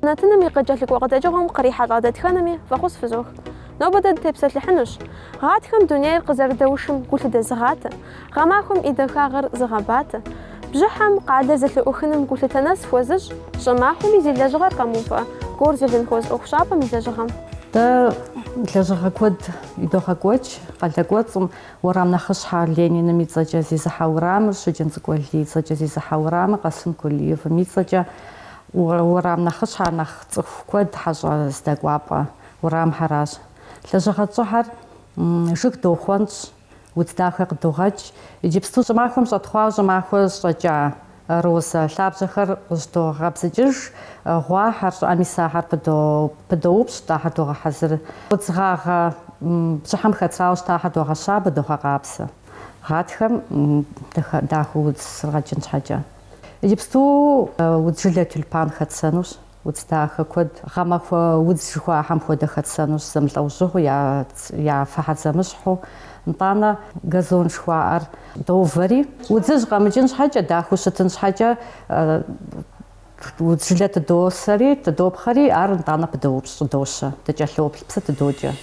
Нэтыным и къыкӏэлъыкӏуэ къыдэкӏыгъуэм кърихьэлӏа дэтхэнэми фӏэхъус фызох. Нобэ дэ дытепсэлъыхьынущ. Гъатхэм дунейр къызэрыдэушым гу лъыдэзыгъатэ, гъэмахуэм и дахагъыр зыгъэбатэ. Бжьыхьэм къалэр зэлъыӏухыным гулъытэ нэс хуэзыщӏ, щӏымахуэми зи лэжьыгъэр къэмыувыӏэ Горзеленхоз ӏуэхущӏапӏэм и лэжьыгъэм. Дэ лэжьыгъэ куэд идогъэкӏуэкӏ къалэ кӏуэцӏым, уэрам нэхъыщхьэр Лениным и цӏэкӏэ зезыхьэ уэрамыр, Щоджэнцӏыкӏу Алий и цӏэкӏэ зезыхьэ уэрамыр, Къасым Кулиевым и цӏэкӏэ Уэрам нэхъыщхьэр нэхъ цӏыху куэд хьэщӏэ здэкӏуапӏэ уэрамхьэращ. Лэжьыгъэ тщӏыхьэр жыг дохъуэнщӏ, удз дахэ къыдогъэкӏ. Иджыпсту щӏымахуэм щӏэтхъуауэ щӏымахуэ щӏэкӏа розэ лъабжьэхэр къыщыдогъэбзыкӏыж, гъуахьэр щӏыӏэм исахьэр пыдоупщӏ, тӏахьэр догъэхьэзыр. Удз гъагъэ бжьыхьэм хэтсауэ щытахьэр догъэщабэ, догъэкъабзэ. Гъатхэм дахэу удзыр къэкӏын щхьэкӏэ. Иджыпсту удз жылэ тюльпан хэтсэнущ, удз дахэ куэд, гъэмахуэ удз жыхуаӏэхьэм хуэдэ хэтсэнущ, зэмылӏэужьыгъуэу, я фэхьэр зэмыщхьу. Нтӏанэ газон жыхуаӏэр довэри, удзыжь къэмыкӏын щхьэкӏэ, дахэу щытын щхьэкӏэ удз жылэ тыдосэри, тыдопхъэри, ар нтӏанэ пыдоупщӏ, щӏыдощэ, дыкӏэлъоплъ, псы тыдокӏэ.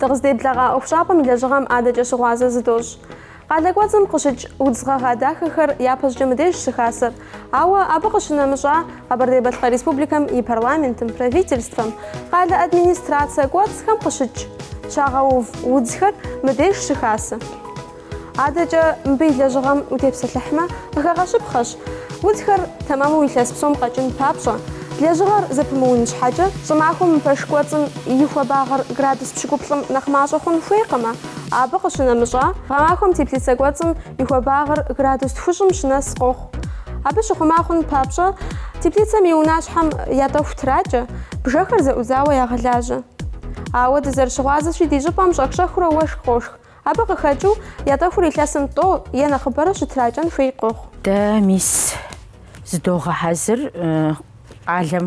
Дыкъыздеблэгъа ӏуэхущӏапӏэм и лэжьыгъэм адэкӏэ щыгъуазэ зыдощӏ. Къалэ кӏуэцӏым къыщыкӏ удз гъэгъа дахэхэр япэщӏыкӏэ мыдежщ щыхасэр. Ауэ абы къыщынэмыщӏа, Къэбэрдей-Балъкъэр Республикэм и парламентым, правительствэм, къалэ администрацэ кӏуэцӏхэм къыщыкӏ щагъэув удзхэр мыдеж щыхасэ. Адэкӏэ мыбы и лэжьыгъэм утепсэлъыхьмэ, къыхэгъэщыпхъэщ. Удзхэр тэмэму илъэс псом къэкӏын папщӏэ. Лэжьыгъэр зэпымыун щхьэкӏэ, щӏымахуэм мы пэш кӏуэцӏым и хуабагъыр градус пщыкӏуплӏым нэхъ мащӏэ хъун хуейкъымэ. Абы къыщынэмыщӏа, гъэмахуэм теплицэ кӏуэцӏым и хуабагъыр градус тхущӏым щынэс къохъу. Абы щыхъума хъун папщӏэ, теплицэм и унащхьэм ятӏэху тракӏэ, бжэхэр зэӏудзауэ ягъэлажьэ. Ауэ дызэрыщыгъуазэщи, ди щӏыпӏэм щӏэх-щӏэхыурэ уэшх къошх. Абы къыхэкӏыу, ятӏэхур илъэсым тӏо е нэхъыбэрэ щытракӏэн хуей къохъу. Дэ мис зыдогъэхьэзыр къалэм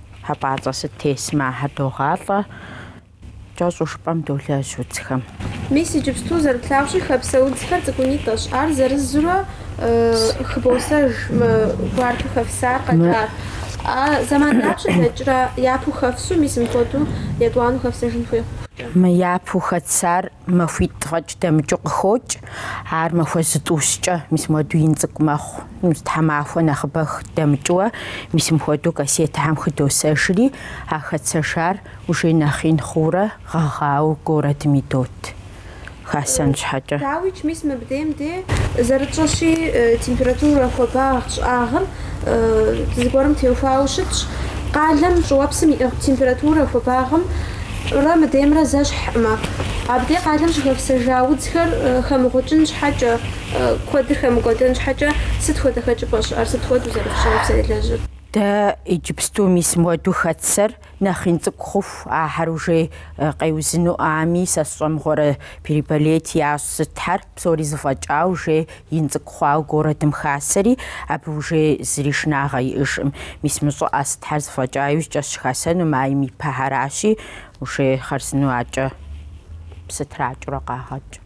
Хьэпӏацӏэ сыт тесмэ ахэр догъалӏэ, кӏэщӏу жыпӏэм долэжь удзхэм. Мис иджыпсту зэрытлъагъущи, хэпса удзхэр цӏыкӏунитӏэщ. Ар зырызурэ хыбосэж мы гуаркэ хэфсар, къэкӏар. А зэман дапщэ дэкӏрэ? Япэу хэфсу, мис мыпхуэдэу етӏуанэу хэфсэжын хуей хъуху. Мы япэу хэтсар махуитӏ фӏэкӏ дэмыкӏыу къыхокӏ, ар махуэ зытӏущкӏэ, мис муэду ин цӏыкӏу мэхъу. Мис тхьэмахуэ нэхъыбэх дэмыкӏыуэ, мисым хуэдэу кассетэхэм хыдосэжри, а хэтсэжар уже нэхъ ин хъуурэ гъэгъауэ городым идот. Хасэн щхьэкӏэ. Дауикӏ, мис мыбдейм де, зэрытщӏэщи, температурэ хуабагъ щӏыӏагъыр зыгуэрым теухуауэ щытщ. Къалэм щӏыуэпсым и температурэ хуабагъымрэ мыдеймрэ зэщхькъымэ. Абдей къалэм щыхэфсэжа удзхэр хэмыгъукӏын щхьэкӏэ. Куэдыр хэмыкӏуэдын щхьэкӏэ, сыт хуэдэ хэкӏыпӏэ щыӏэр, сыт хуэдэу зэрыфщӏыгъуи псэлэжьыр? Дэ иджыпсту мис муэду хэтсэр нэхъ ин цӏыкӏу хъуху, ахэр уже къеузынуӏами, сэ сщӏэ мыгъуэрэ переболеть ящӏ сытхьэр, псори зэфӏэкӏауэ уже ин цӏыкӏу хъуауэ городым хасэри, абы уже зыри шынагъэ иӏэжкъым. Мис мы щӏыӏэ сытхьэр зэфӏэкӏа иужькӏэ щыхасэну маим и пэхэращи, уже хъарзыну акӏэ псы тракӏыурэ къагъэкӏ.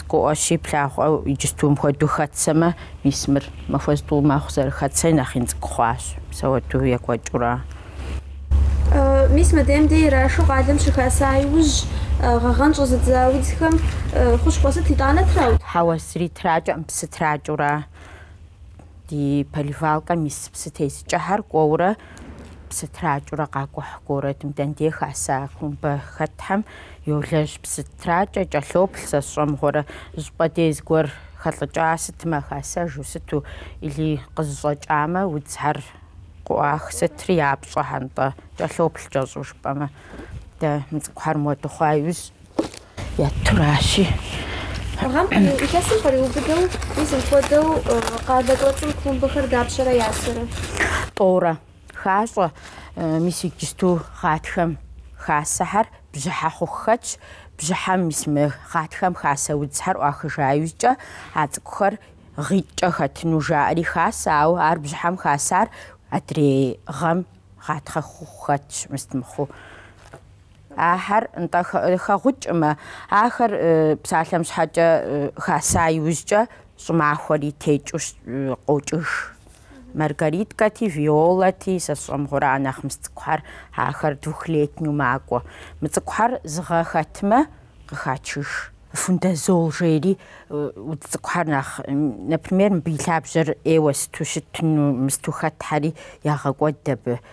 Цӏыкӏуӏуэщи, плъагъууэ иджысту мыпхуэдэу хэтсэмэ, мис мыр махуэ зытӏу мэхъу зэрыхэтсэри нэхъ ин цӏыкӏу хъуащ, псэуэту екӏуэкӏура. Мис мыдейм дэ ирашэу къалэм щыхаса иужь, гъэгъэн щӏэзыдза удзхэм хущхъуэ сыт, итӏанэ трау? Хьэуэ, зыри тракӏэкъым, псы тракӏыура. Ди поливалкэм ис псы тезыкӏэхэр кӏуэурэ Псы тракӏыурэ къакӏухь городым дэндей хаса клумбэ хэтхьэм йолэжь псы тракӏэ, кӏэлъоплъ сэ сщӏэ мыгъуэрэ щӏыпӏэ де зыгуэр хэлӏыкӏа сытмэ, хасэжу сыту, или къызыщӏэкӏамэ, удзхьэр къуӏуах сытри япщӏэ хьэнтӏэ, кӏэлъоплъ кӏэщӏу жыпӏэмэ, дэ мы цӏыкӏухэр муэду хъуа иужь яттуращи. Гъэм къриу, илъэсым къриубыдэу, мисым хуэдэу къалэ кӏуэцӏым клумбэхэр дапщэрэ ясэрэ? Тӏорэ хасэ, мис иджысту гъатхэм хасэхэр бжьыхьэ хъуху хэтщ, бжьыхьэм, мис мы гъатхэм хасэ удзхэр ӏуахыжа иужькӏэ а цӏыкӏухэр гъитӏкӏэ хэтыну жаӏэри хасэ, ауэ ар бжьыхьэм хасар адрей гъэм гъатхэ хъуху хэтщ мысыт мыхъуу. Ахэр нтӏэ хэгъукӏмэ, ахэр псалъэм щхьэкӏэ хаса иужькӏэ щӏымахуэри текӏыу къокӏыж. Маргариткэти Виолэти, сэ сщӏэ мыгъуэрэ, нэхъ мис цӏыкӏухэр, ахэр двухлетнэу макӏуэ. Мы цӏыкӏухэр зыгъэ хэтмэ, къыхачыж. Фундазол жери удз цӏыкӏухэр нэхъ, например, мыбы и лъабжьэр ӏейуэ сыту щытыну, мысту хэтхьэри ягъэкӏуэд абы.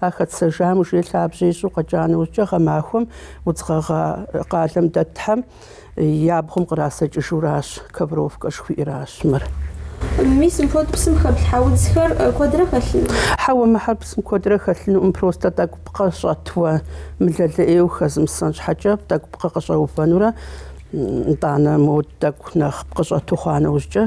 А хэтсэжам уже лъабжьэ ищӏу къэкӏа нэужькӏэ гъэмахуэм удз гъэгъа къалэм дэтхьэм я бгъум кърасэкӏыжуращ, Ковровкэ жыхуиӏэращ мыр. Мис мыпхуэдэ псым хэплъхьа удзхэр куэдрэ хэлъыну? Хьэуэ, мыхьэр псым куэдрэ хэлъынукъым, просто тӏэкӏу пкъэ щӏэтуэ мылэлэ ӏейуэ хэзмысэн щхьэкӏэ, тӏэкӏу пкъэ къыщӏэувэнурэ Итӏанэ мо тӏэкӏу нэхъ пкъы щӏэту хъуа нэужькӏэ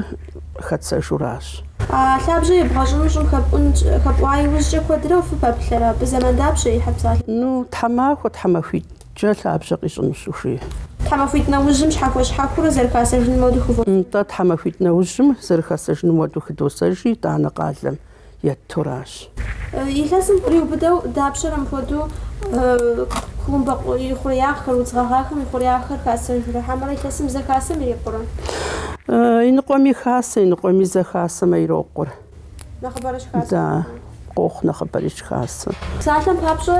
хэтсэжуращ. А лъабжьэр ебгъэщӏыну щӏым хэпӏунщ, хэпӏуа иужькӏэ куэдрэ фыпэплъэрэ? Абы зэман дапщэ ихьыр псалъэм? Ну, тхьэмахуэ, тхьэмахуитӏкӏэ лъабжьэ къищӏынущ ухуей. Тхьэмахуитӏ нэужьым щхьэхуэ-щхьэхуурэ зэрыхасэжыным хуэдэу хывосэж. Нтӏэ, тхьэмахуитӏ нэужьым зэрыхасэжыным хуэдэу хыдосэжи, итӏанэ къалэм. еттуращ. Илъэсым къриубыдэу, дапщэрэ мыпхуэдэу куумбэкъу и хъуреягъхэр, удз гъэгъахэм и хъуреягъхэр хасэжрэ, хьэмэрэ илъэсым зэ хасэм ирикъурэ? Иныкъуэми хасэ, иныкъуэми зэ хасэмэ ирокъур. Нэхъыбэри щыхасэ. Да, къохъу нэхъыбэри щыхасэ. Псалъэм папщӏэ,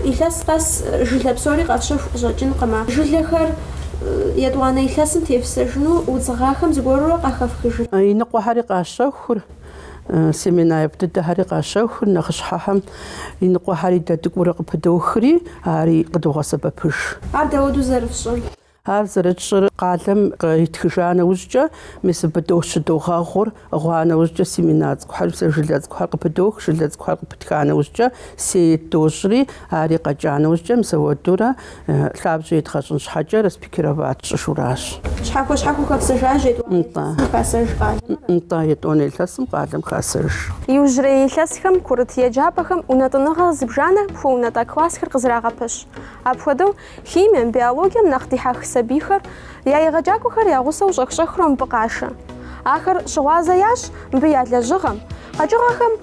илъэс къэс жылэ псори къэфщэху къыщӏэкӏынкъыма? Жылэхэр етӏуанэ илъэсым тефсэжыну удз гъэгъахэм зыгуэрурэ къахэфхыжрэ? Иныкъуэхэри къащэхур. семенафӏ дыдэхэри къащэхур, нэхъыщхьэхэм и ныкъуэхэри дэ дыкӏуэурэ къыпыдохри, ари къыдогъэсэбэпыж. Ар дауэду зэрыфщӏыр? Ар зэрытщӏыр къалэм къитхыжа нэужькӏэ, мис абдеж щыдогъэгъур, гъуа нэужькӏэ семена цӏыкӏухэр, жылэ цӏыкӏухэр къыпыдох, жылэ цӏыкӏухэр къыпытха нэужькӏэ сеять дощӏри, Ари къэкӏа нэужькӏэ мис хуэдэурэ лъабжьэ едгъэщӏын щхьэкӏэ распикировать тщӏыжуращ. Щхьэхуэ-щхьэхуэ хэпсэжащ Етӏуанэ илъэсым хасэж къалэм. Нтӏэ, Етӏуанэ илъэсым къалэм хасэж. Иужьрей илъэсхэм курыт еджапӏэхэм унэтӏыныгъэ зыбжанэм хуэунэтӏа классхэр къызэрагъэпэщ. Апхуэдэу, Химием, биологием нэхъ дихьэх сабийхэр я егъэджакӏуэхэр я гъусэу щӏэх-щӏэхыурэ мыбы къашэ. Ахэр щыгъуазэ ящӏ мыбы я лэжьыгъэм, къэкӏыгъэхэм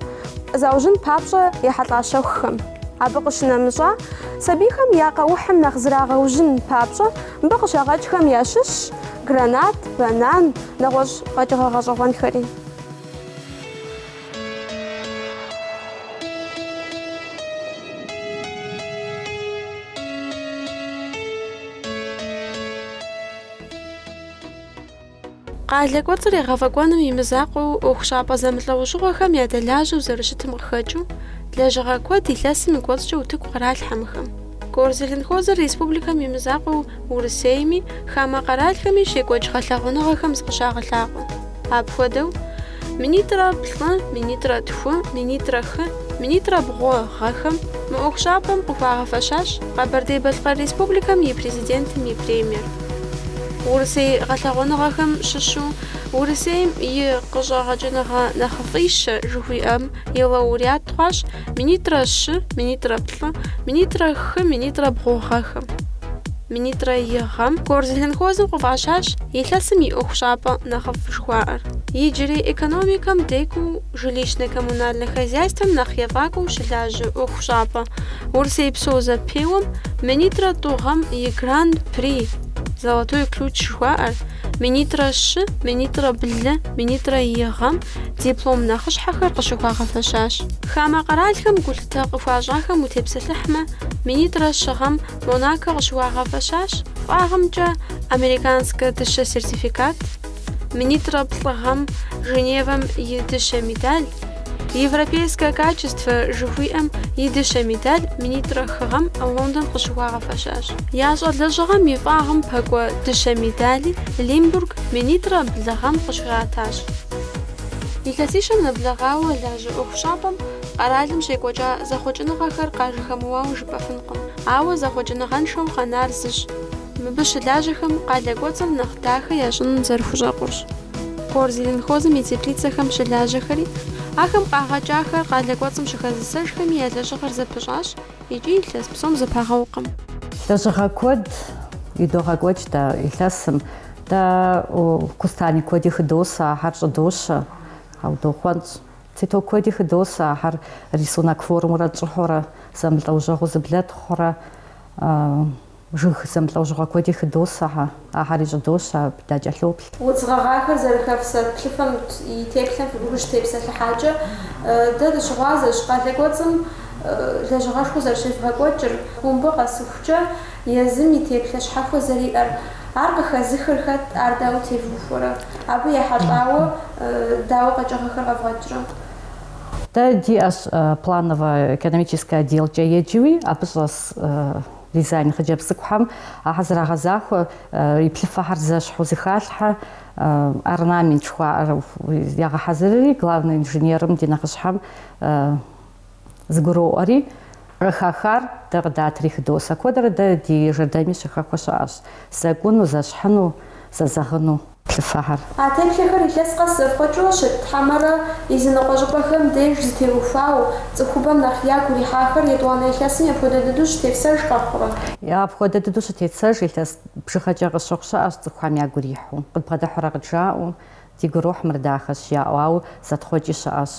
заужьын папщӏэ ехьэлӏа щэхухэм. Абы къыщынэмыщӏа сабийхэм я къэухьым нэхъ зрагъэужьын папщӏэ мыбы къыщагъэкӏхэм ящыщщ гранат, банан, нэгъуэщӏ къэкӏыгъэ гъэщӏэгъуэнхэри. Къалэ кӏуэцӏыр егъэфӏэкӏуэным и мызакъуэу ӏуэхущӏапӏэ зэмылӏэужьыгъуэхэм ядэлажьэу зэрыщытым къыхэкӏыу, лэжьыгъэ куэд илъэсым и кӏуэцӏкӏэ утыку къралъхьэ мыхэм. Горзеленхозыр республикэм и мызакъуэу Урысейми, хамэ къэралхэми щекӏуэкӏ гъэлъэгъуэныгъэхэм зыкъыщагъэлъагъуэ. Апхуэдэу, Минитӏрэ плӏы, Минитӏрэ тху, Минитӏрэ хы, Минитӏрэ бгъу гъэхэм мы ӏуэхущӏапӏэм къыхуагъэфэщащ Къэбэрдей-Балъкъэр Республикэм и Президентым и премиер. Урысей гъэлъэгъуэныгъэхэм щыщу Урысейм и къыщӏэгъэкӏыныгъэ нэхъыфӏищэ жыхуиӏэм и лауреат хъуащ минитӏрэ щы, минитӏрэ плӏы, минитӏрэ хы, минитӏрэ бгъу гъэхэм. Минитӏрэ и гъэм Горзеленхозым къыфӏащащ илъэсым и ӏуэхущӏапӏэ нэхъыфӏ жыхуаӏэр. Иджырей экономикэм декӏуу жилищнэ-коммунальнэ хозяйствэм нэхъ ефӏакӏуэу щылажьэ ӏуэхущӏапӏэ Урысей псо зэпеуэм Минитӏрэ тӏу гъэм и Гран-при, Золотой ключ жыхуаӏэр, минитӏрэ щы, минитӏрэ блы, минитӏрэ и гъэм Диплом нэхъыщхьэхэр къыщыхуагъэфэщащ. Хамэ къэралхэм гулъытэ къыхуащӏахэм утепсэлъыхьмэ, минитӏрэ щы гъэм Монако къыщыхуагъэфэщащ фӏагъымкӏэ американскэ дыщэ сертификат, минитӏрэ плӏы гъэм Женевэм и дыщэ медаль, Европейское качество жыхуиӏэм и дыщэ медаль, минитӏрэ хы гъэм Лондон къыщыхуагъэфэщащ. Ящӏэ лэжьыгъэм и фӏагъым пэкӏуэ дыщэ медали Лимбург, минитӏрэ блы гъэм къыщратащ. Илъэсищэм нэблэгъауэ лажьэ ӏуэхущӏапӏэм къэралым щекӏуэкӏа зэхъуэкӏыныгъэхэр къажьэхэмыуауэ жыпӏэфынкъым, ауэ зэхъуэкӏыныгъэншэу къэнар зыщ. Мыбы щылажьэхэм къалэ кӏуэцӏыр нэхъ дахэ ящӏыным зэрыхущӏэкъурщ. Горзеленхозым и теплицэхэм щылажьэхэри, ахэм къагъэкӏахэр къалэ кӏуэцӏым щыхэзысэжхэми я лэжьыгъэр зэпыщӏащ икӏи илъэс псом зэпагъэукъым. Лэжьыгъэ куэд идогъэкӏуэкӏ дэ илъэсым, Дэ кустарник куэди хыдосэ, ахэр щӏыдощэ, удохъуэнщӏ. Цветок куэди хыдосэ, ахэр рисунок формэурэ тщӏыхьурэ, зэмылӏэужьыгъуэу зыблэтхъурэ, жыг зэмылӏэужьыгъуэ куэди хыдосэ, ахэри щӏыдощэ, абы дакӏэлъоплъ. Удз гъэгъахэр зэрыхэфсэ плъыфэм и теплъэм фыкъыщытепсэлъыхьакӏэ, дэ дыщыгъуазэщ къалэ кӏуэцӏым лэжьыгъэшхуэ зэрыщевгъэкӏуэкӏыр, клумбэ къэсыхукӏэ. Езым и теплъэ щхьэхуэ зэриӏэр, ар къыхэзыхыр хэт, ар дауэ тевухуэрэ, абы ехьэлӏауэ дауэ къэкӏыгъэхэр къэвгъэкӏрэ? Дэ диӏэщ планово-экономическэ отделкӏэ еджэуи, абы щӏэс дизайн хъыджэбз цӏыкӏухэм ахэр зэрагъэзахуэ и плъыфэхэр зэщхьу зыхалъхьэ, орнамент жыхуаӏэр ягъэхьэзырри, главный инженерым ди нэхъыщхьэм. Зыгуроӏуэри, къыхахар дэ къыдатри хыдосэ. Куэдрэ дэ ди жэрдэми щыхэхуэ щыӏэщ, зэкӏуну, зэщхьыну, зэзэгъыну плъыфэхэр. А теплъэхэр илъэс къэс зэфхъуэкӏыу щыт хьэмэрэ языныкъуэ щӏыпӏэхэм деж зытеухуауэ, цӏыхубэм нэхъ ягу ирихьахэр етӏуанэ илъэсым апхуэдэ дыдэу щытепсэж къэхъурэ? Апхуэдэ дыдэу щытепсэж илъэс бжыгъэкӏэ къыщыхъу щыӏэщ цӏыхухэм ягу ирихьу, къыдбгъэдыхьурэ къыджаӏэу, Ди гурохь мыр дахэщ, жаӏэу, ауэ зэтхъуэкӏи щыӏэщ.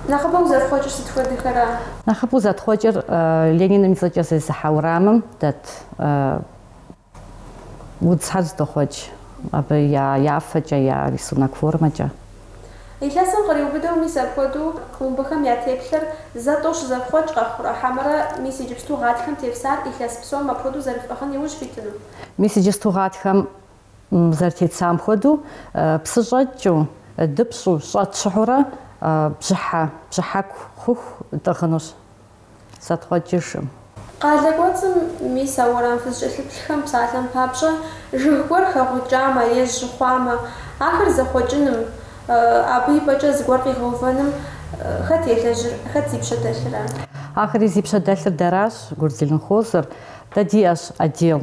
Нэхъыбэу зэтхъуэкӏыр сыт хуэдэхэра? Нэхъыбэу зэтхъуэкӏыр Лениным и цӏэкӏэ зезыхьэ уэрамым дэт удзхэр здохъуэкӏ, абы я яфэкӏэ, я рисунок формэкӏэ. Илъэсым къриубыдэу мис апхуэдэу клумбэхэм я теплъэр зэ-тӏэу щызэфхъуэкӏ къэхъурэ, хьэмэрэ мис иджыпсту гъатхэм тефсар илъэс псом апхуэдэу зэрыфӏыгъын иужь фитыну? Мис иджыпсту гъатхэм Зэрытетсам хуэдэу, псы щӏэткӏэу, дыпщӏэу, щӏэтщыхьурэ бжьыхьэ, бжьыхьэку хъуху тӏыгъынущ. Зэтхъуэкӏыжкъым. Къалэ кӏуэцӏым мис а уэрам фызкӏэлъыплъхэм псалъэм папщӏэ жыг гуэр хэгъукӏамэ е жьы хъуамэ, ахэр зэхъуэкӏыным, абы и пӏэкӏэ зыгуэр къигъэувэным хэт елэжьыр, хэт зи пщэ дэлъыр? Ахэри зи пщэ дэлъыр дэращ, Горзеленхозыр, дэ диӏэщ отдел.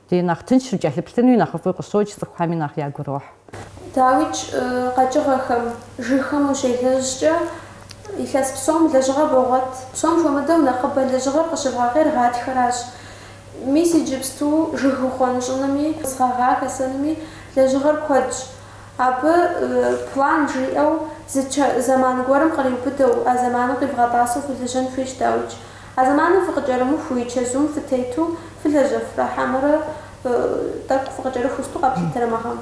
Ди нэхъ тыншыр кӏэлъыплъынуи нэхъыфӏу къыщокӏ, цӏыхухэми нэхъ ягурохь. Дауикӏ къэкӏыгъэхэм, жыгхэм ущелэжькӏэ, илъэс псом лэжьыгъэ богъуэт. Псом хуэмыдэу нэхъыбэ лэжьыгъэр къыщывгъэхъейр гъатхэращ. Мис иджыпсту жыг ухъуэнщӏынми, удз гъэгъа хэсэнми лэжьыгъэр куэдщ. Абы план фиӏэу, зы чэ зэман гуэрым къриубыдэу, а зэманым къивгъэтӏасэу фылэжьэн хуейщ, дауикӏ. А зэманым фыкъыкӏэрымыхуу и чэзум фытету фылэжьэфрэ хьэмэрэ тӏэкӏу фыкъыкӏэрыхуу щыту къэплъытэрэ мы гъэм?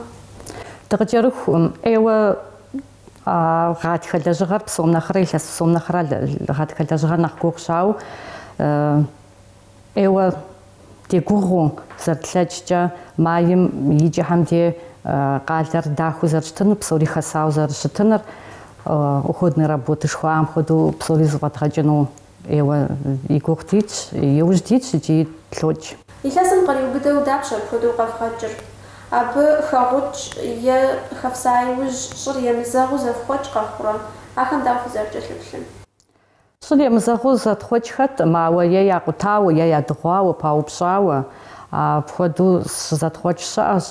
Дыкъыкӏэрыхукъым ӏейуэ, гъатхэ лэжьыгъэр псом нэхърэ илъэс псом нэхърэ гъатхэ лэжьыгъэр нэхъ гугъущ, ауэ ӏейуэ. Дегугъуу, зэрытлъэкӏкӏэ, майм и кӏэхэм ди къалэр дахэу зэрыщытыныр, псори хэсауэ зэрыщытыныр, уходнэ работы жыхуаӏэм хуэдэу псори зэфӏэдгъэкӏыну ӏейуэ и гугъу дитщ, и ужь дитщ икӏи тлъокӏ. Илъэсым къриубыдэу дапщэ апхуэдэу къэвгъэкӏыр? Абы хэгъукӏ е хэфса иужь щӏыр емызэгъыу зэфхъуэкӏ къэхъурэ? Ахэм дауэ фызэрыкӏэлъыплъыр? Щӏыр емызэгъыу зэтхъуэкӏ хэткъым, ауэ е якъутауэ, е ядыгъуауэ, паупщӏауэ, апхуэдэу щызэтхъуэкӏ щыӏэщ.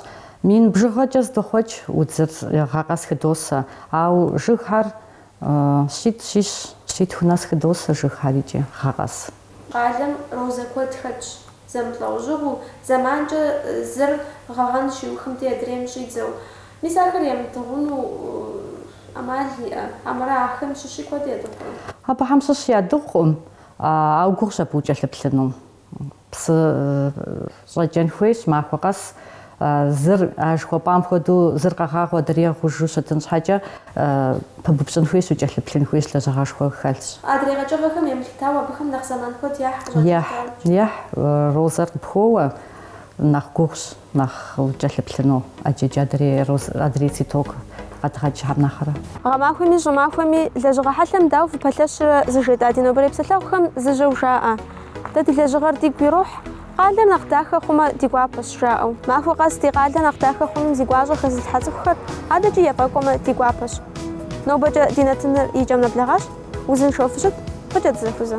Мин бжыгъэкӏэ здохъуэкӏ удзыр гъэ къэс хыдосэ, ауэ жыгхэр щитӏ, щищ, щитху нэс хыдосэ жыгхэр икӏи гъэ къэс. Къалэм розэ куэд хэтщ. Зэмылӏэужьыгъуу, зэманкӏэ зыр гъэгъэн щиухым дей адрейм щӏидзэу. Мис ахэр ямыдыгъуну ӏэмал иӏэ? Хьэмэрэ ахэм щыщи куэд ядыгъурэ? Абыхэм щыщ ядыгъукъым, ауэ гугъущ абы укӏэлъыплъыну. Псы щӏэкӏэн хуейщ, махуэ къэс Зыр, а жыхуэпӏам хуэдэу, зыр къэгъагъэу адрей гъуэжьу щытын щхьэкӏэ, пыбупщӏын хуейщ, укӏэлъыплъын хуейщ, лэжьыгъэшхуэ хэлъщ. Адрей къэкӏыгъэхэм емылъытауэ, абыхэм нэхъ зэман куэд яхь къыщӏэкӏыжкъэ? Ехь, ехь. Розэр къыпхоуэ, нэхъ гугъущ, нэхъ укӏэлъыплъыну, ӏэджэкӏэ адрей, роз, адрей цветок къэдгъэкӏхэм нэхърэ. Гъэмахуэми щӏымахуэми, лэжьыгъэ хьэлъэм дауэ фыпэлъэщрэ зыжетӏа ди нобэрей псэлъэгъухэм зы жьэу жаӏэ, Дэ ди лэжьыгъэр дигу ирохь, Къалэр нэхъ дахэ хъумэ, ди гуапэщ, жаӏэу. Махуэ къэс ди къалэр нэхъ дахэ хъуным зи гуащӏэ хэзылъхьэ цӏыхухэр адэкӏи ефӏэкӏуэмэ, ди гуапэщ. Нобэкӏэ ди нэтыныр и кӏэм нэблэгъащ, узыншэу фыщыт, фӏыкӏэ дызэхузэ.